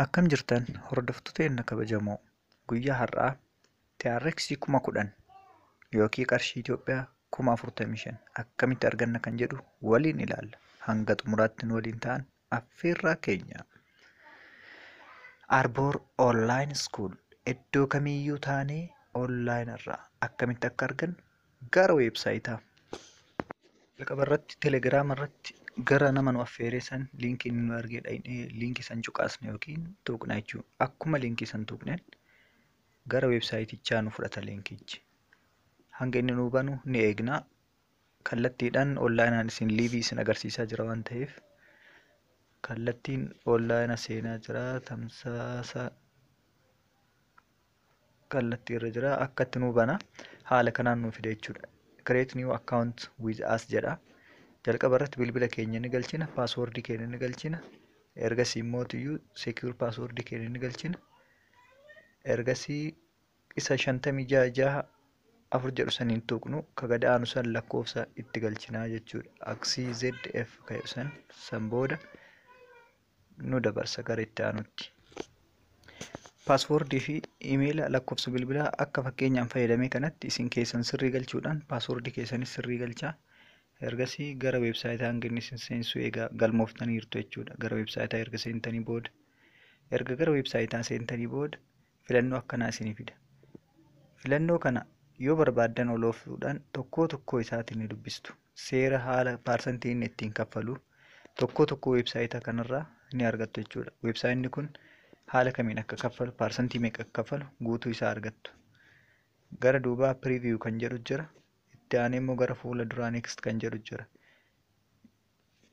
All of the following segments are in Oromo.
Akkam jirtan hordoftoota keenya kabajamoo guyyaa har'aa TRX kuma kudhan yookiin qarshii Itoophiyaa kuma afurtamii shan akkamitti arganna kan jedhu waliin ilaalla. Hanga xumuraatti nu waliin ta'aa affeerraa keenya. Arboor Online School iddoo kamiyyuu taanee online irraa akkamitti akka argannu Gara weebsaayitaa. Jalqaba irratti telegiraama irratti gara nama nu affeeree san liinkii inni nu argee dhaqnee liinkii san cuqaasne yookiin tuqna jechuudha. Akkuma liinkii san tuqneen gara weebsaayitichaa nu fudhata liinkichi. Hanga inni nu banu ni eegna. Kallattiidhaan onlaayinaan isin liivii isin agarsiisaa jira waan ta'eef kallattiin onlaayina seenaa jira tamsaasa kallattii irra jira akkatti nuu bana haala kanaan nuu fida jechuudha create new account with us jedha jalqaba irratti bilbila keenya ni galchina paaswoordii keenya ni galchina ergasii immoo iyyuu secure paaswoordii keenya ni galchina ergasii isa shantamii jaha jaha afur jedhu saniin tuqnu ka gad aanu san lakkoofsa itti galchinaa jechuudha aksii zf ka jedhu san san booda nu dabarsa gara itti aanutti. Paaswoordii fi imeela lakkoofsa bilbilaa akka fakkeenyaan fayyadamee kanatti isin keessan sirrii galchuudhaan paaswoordii keessanis sirrii galchaa. Ergasii gara weebsaayitaa hanga inni isin seensisuu egaa galmooftaniirtu jechuudha. Gara weebsaayitaa erga seentanii booda erga gara weebsaayitaa seentanii booda filannoo akkanaa isinii fida. Filannoo kana yoo barbaaddan ol oofuudhaan tokkoo tokkoo isaatiin ni dubbistu. Seera haala paarsantii inni ittiin kaffalu tokkoo tokkoo weebsaayita kanarraa ni argattu jechuudha. Weebsaayinni kun haala kamiin akka kaffalu paarsantii meeqa akka kaffalu guutuu isaa argattu. Gara duubaa preview kan jedhu jira. Itti aanee immoo gara fuula duraa next kan jedhu jira.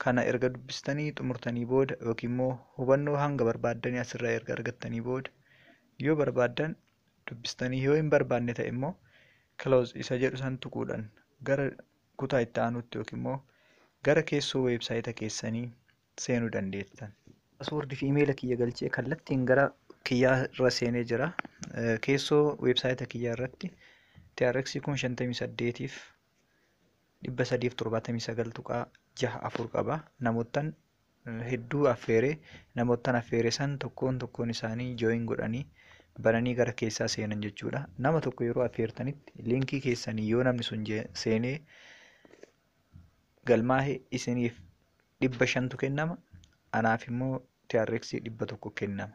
Kana erga dubbistanii xumurtanii booda yookiin immoo hubannoo hanga barbaaddanii asirraa erga argattanii booda yoo barbaaddan dubbistanii yoo hin barbaanne ta'e immoo close isa jedhu san tuquudhaan gara kutaa itti aanutti yookiin immoo gara keessoo weebsaayita keessanii seenuu dandeettan. Password fi imeela kiyya galchee kallattiin gara kiyyaa irra seenee jira. Keessoo weebsaayita kiyyaa irratti TRX 1058f 379.64 qaba. Namoottan hedduu affeere. Namoottan affeere san tokkoon tokkoon isaanii join godhanii bananii gara keessaa seenan jechuudha. Nama tokko yeroo affeertanitti liinkii keessanii yoo namni sun seenee galmaahe isiniif dhibba shantu kennama. Anaaf immoo TRX dhibba tokko kennama.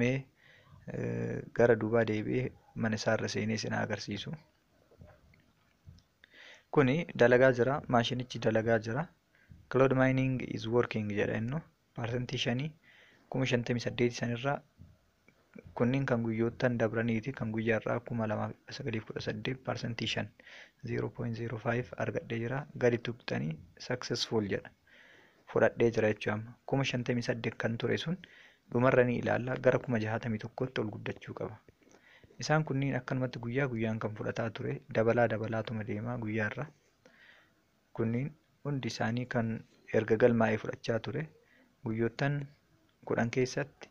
Mee gara duubaa deebi'ee mana isaa irra seenee isin agarsiisu. Kuni dalagaa jira, maashinichi dalagaa jira. Cloud mining is working jedha innu. Parsantii shanii kuma shantamii saddeeti sanirraa kunniin kan guyyoottan dabraniiti kan guyyaa irraa kuma lamaa fi sagalii kudha saddeet parsantii shan 0.05 argadhee jira gadi tuqxanii successful jedha. fudhadhee jira jechuudha amma kuma shantamii saddeet kan ture sun dhumarra ni ilaalla gara kuma jahaatamii tokkotti ol guddachuu qaba. Isaan kunniin akkanumatti guyyaa guyyaan kan fudhataa ture dabalaa dabalaatuma deemaa guyyaarra kunniin hundi isaanii kan erga galmaa'ee fudhachaa ture guyyoottan kudhan keessatti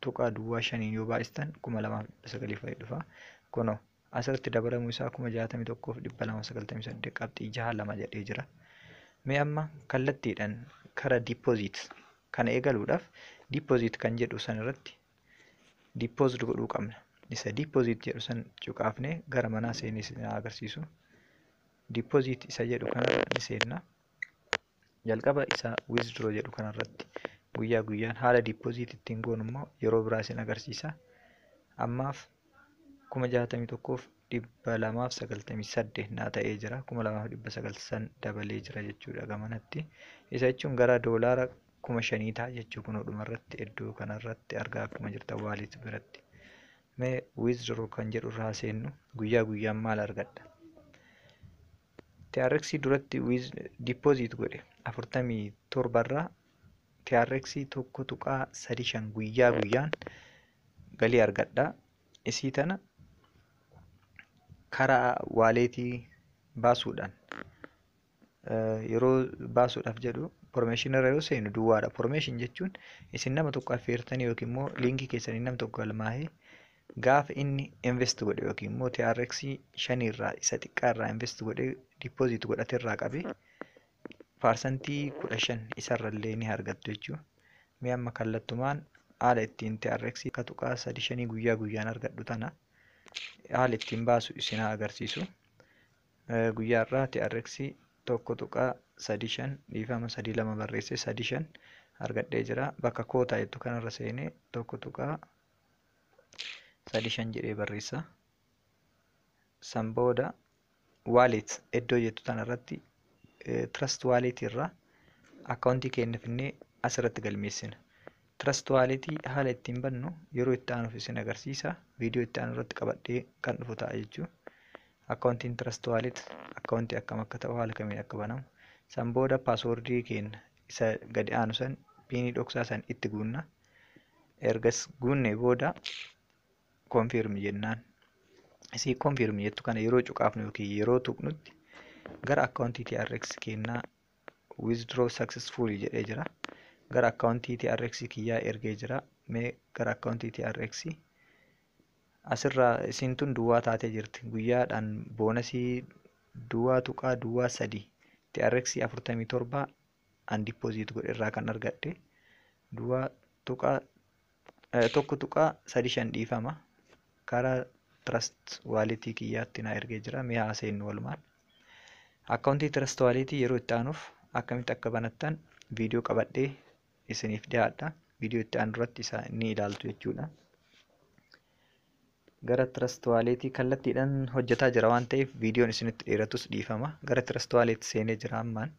tuqaa duwwaa shaniin yoo baay'istan kuma lamaaf dhibba sagalii fa'i dhufa. Kunoo asirratti dabalamuu isaa kuma jaatamii tokkoof dhibba lama sagaltamii saddeet qabxii jaha lama jedhee jira. Mee amma kallattiidhaan kara deposit kana eegaluudhaaf deposit kan jedhu san irratti deposit godhuu qabna. Isa deposit jedhu san cuqaafnee gara manaa seenee isin agarsiisu. Deposit isa jedhu kana ni seenna. jalqaba isa withdraw jedhu kanarratti guyyaa guyyaan haala deposit ittiin goonu immoo yeroo biraa isin agarsiisa ammaaf kuma jaatamii tokkoof dhibba lamaaf sagaltamii saddeet naa ta'ee jira kuma lamaaf dhibba sagal san dabalee jira jechuudha gamanatti isa jechuun gara doolaara kuma shanii ta'a jechuu kun dhumarratti iddoo kanarratti argaa akkuma jirta waalit biratti mee withdraw kan jedhu irraa seennu guyyaa guyyaan maal argadha TRX duratti with deposit godhe 47 irraa TRX 1.35 guyyaa guyyaan galii argadha. Isii tana karaa waaleetii baasuudhaan yeroo baasuudhaaf jedhu information irra yoo seenu duwwaadha. Information jechuun isin nama tokko affeertanii yookiin immoo liinkii keessaniin nam tokko galmaa'ee Gaafa inni invest godhe yookiin immoo TRX shanii irraa isa xiqqaa irraa invest godhe deposit godhate irraa qabe paarsantii kudha shan isarra illee ni argattu jechuudha. Mee amma kallattumaan haala ittiin TRX akka tuqaa sadi shanii guyyaa guyyaan argadhu tana haala ittiin baasu isin haa agarsiisu. Guyyaa irraa TRX tokko tuqaa sadi shan dhiifama sadi lama barreesse sadi shan argadhee jira. Bakka kootaa jettu kanarra seenee tokko tuqaa sadi shan jedhee barreessa. San booda wallet iddoo jettu tana irratti trust wallet irraa akkaawuntii keenya finnee asirratti galmeessina. Trust wallet haala ittiin bannu yeroo itti aanuuf isin agarsiisa. Viidiyoo itti aanu irratti qabadhee kan dhufu ta'a jechuudha. Akkaawuntiin trust wallet akkaawuntii akkam akka ta'u haala kamiin akka banamu. San booda paaswoordii keenya isa gadi aanu san piinii dhoksaa san itti guunna. ergas guunnee booda confirm jennaan isii confirm jettu kana yeroo cuqaafnu yookiin yeroo tuqnutti gara akkaawuntii TRX kennaa withdraw successful jedhee jira gara akkaawuntii TRX kiyyaa ergee jira mee gara akkaawuntii TRX asirraa isiin tun duwwaa taatee jirti guyyaadhaan boonasii duwwaa tuqaa duwwaa sadii TRX 47 an deposit godhe irraa kan argadhe duwwaa tuqaa eh, tokko tuqaa sadi shan dhiifama karaa trust wallet kiyyaatti na ergee jira mee haa seennu walumaan akkaawuntii trust wallet yeroo itti aanuuf akkamitti akka banattan viidiyoo qabadhee isiniif dhiyaadha viidiyoo itti aanu irratti isaa ni ilaaltu jechuudha Gara Trust Wallet kallattiidhaan hojjetaa jira waan ta'eef viidiyoon isinitti dheeratus dhiifama. Gara Trust Wallet seenee jira ammaan.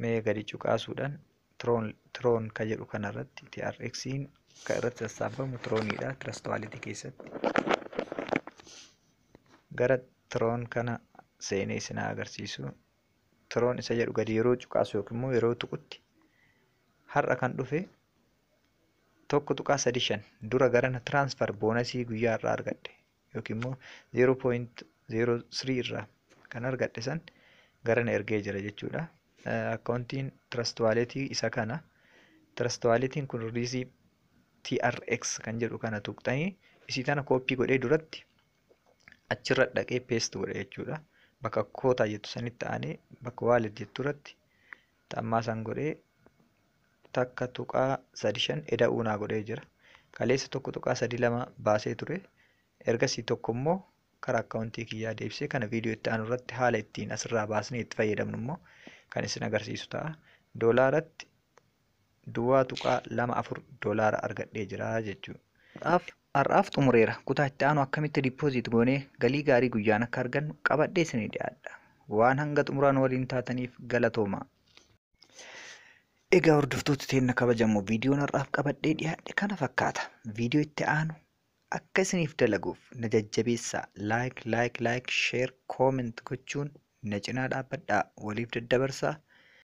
Mee gadi cuqaasuudhaan Tron Tron ka jedhu kanarratti TRXiin kan irratti sassaabamu Troniidha Trust Wallet keessatti. Gara Tron kana seenee isin haa agarsiisu. introon isa jedhu gadi yeroo cuqaasu yookiin immoo yeroo tuqutti har'a kan dhufe tokko tuqaa sadii shan dura garana transfer boonasii guyyaa irraa argadhe yookiin immoo zeeroo pooyint zeeroo sirii irraa kan argadhe san garana ergee jira jechuudha. Akkaawuntiin Trust Wallet isa kana. Trust Wallet kun riizii TRX kan jedhu kana tuqxanii isii tana kooppii godhee duratti achirra dhaqee paste godha jechuudha. Bakka kootaa jettu sanitti aanee bakka wallet jettu irratti xammaa san godhee takka tuqaa sadi shan eda'uu naa godhee jira. Kaleessa tokko tuqaa sadi lama baasee ture. Ergasii tokko immoo karaa akkaawuntii kiyyaa deebisee kana viidiyoo itti aanu irratti haala ittiin asirraa baasnee itti fayyadamnu immoo kan isin agarsiisu ta'a. Doolaaratti duwwaa tuqaa lama afur doolaara argadhee jira jechuudha. Har'aaf har'aaf xumureera. Kutaa itti aanu akkamitti deposit goonee galii gaarii guyyaan akka argannu qabadhee isinii dhiyaadha. Waan hanga xumuraa nu waliin taataniif galatoomaa. Egaa hordoftoota teenna kabajamoo viidiyoon har'aaf qabadhee dhiyaadhe kana fakkaata. Viidiyoo itti aanu akka isiniif dalaguuf na jajjabeessaa like like like share comment gochuun na cinaa dhaabbadhaa waliif daddabarsaa